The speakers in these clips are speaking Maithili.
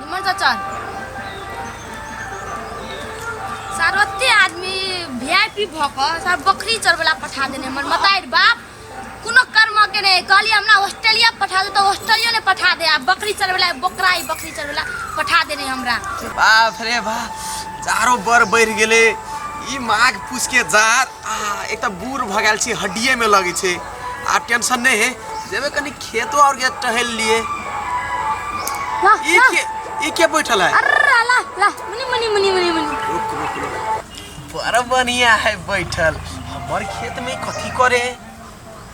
निमन चाचा सारवते आदमी वीआईपी भ क सार बकरी चरबला पठा देने हमर मताइर बाप कोनो कर्म के ने कहली हमरा ऑस्ट्रेलिया पठा दे तो ऑस्ट्रेलिया ने पठा दे आ बकरी चरबला बकरा ही बकरी चरबला पठा देने हमरा बाप रे बाप चारो बर बढ़ गेले ई माघ पूछ के जार आ एक तऽ बूढ़ भऽ गेल छी हड्डिए में लगे छै आ टेंशन नहीं है जेबे कनी खेतो और के टहल लिए ला ई ला के ई के बैठल है अरे ला ला ला मुनी मुनी मुनी मुनी मुनी रुक रुक रुक बड़ा बढ़िया है बैठल हमर खेत में कथी करे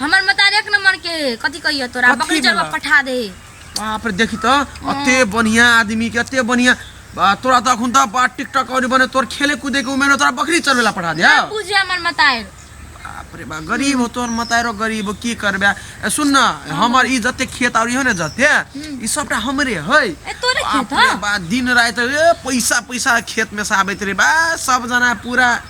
हमर मतार एक नंबर के कथी कहियो तोरा कथी बकरी चरवा भेला? पठा दे बाप रे देखी तो अते बढ़िया आदमी के अते बढ़िया बा, तोरा तो अखुन तो बा टिकटॉक और बने तोर खेले कूदे के उमेर में तोरा बकरी चरवेला पठा दिया ना बुझे हमर मतार बाप रे बा गरीब हो तोर मतारो गरीब हो की करबे ए, सुन ना हमर ई जते खेत और इहो ने जते ई सबटा हमरे है ए तोरे बाप खेत रे ह बा दिन रात ए पैसा पैसा खेत में से आबैत रे बा सब जना पूरा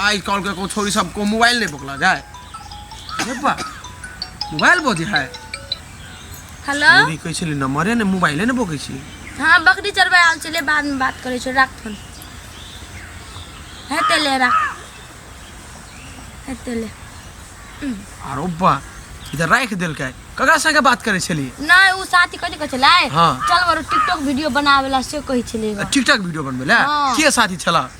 आज कल के को छोरी सब को मोबाइल नहीं पकड़ा जाए अरे बा मोबाइल बोझे है हेलो छोरी कैसे ले नंबर है ना मोबाइल है ना बोके छी हाँ बकरी चरबा आल चले बाद में बात करे छो राख फोन है तेले राख है तेले अरे बा इधर राख देल के ककरा संगे बात करे छली ना उ साथी कथी कह चला हाँ। चल बरो टिकटॉक वीडियो बनावेला से कहि छले टिकटॉक वीडियो बनबे ले हाँ। के साथी छला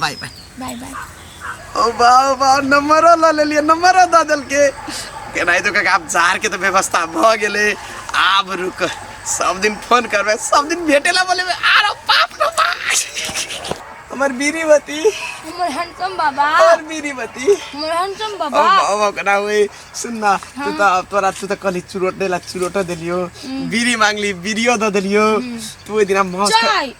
बाय बाय बाय बाय ओ बाओ बाओ नंबर ला ले लिए नंबर दा दल के के नहीं तो का आप जार के तो व्यवस्था भ गेले आब रुक सब दिन फोन करबे सब दिन भेटेला बोले में आरो बाप रे बाप हमर बीरीवती हमर हैंडसम बाबा हमर बीरीवती हमर हैंडसम ओ बाबा बाओ बाओ कना हुए सुनना तू तो अब तोरा तू तो कली चुरोट देला चुरोट देलियो बीरी मांगली बीरियो द देलियो तू ओइ दिना मौज कर- चाय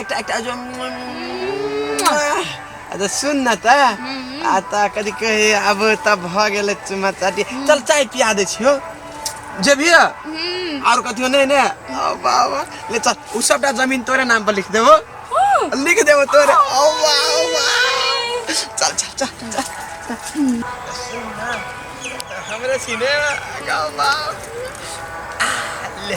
একটা একটা अच्छा सुन न त आ त कथी कहे अब त भ गेले चुमा चाटी चल चाय पिया दे छियो जेबिय और कथियो नहीं ने ओ बाबा ले चल उ सबटा जमीन तोरे नाम पर लिख देबो लिख देबो तोरे ओ बाबा चल चल चल चल हमरा सिनेमा गाओ बाबा आ, ले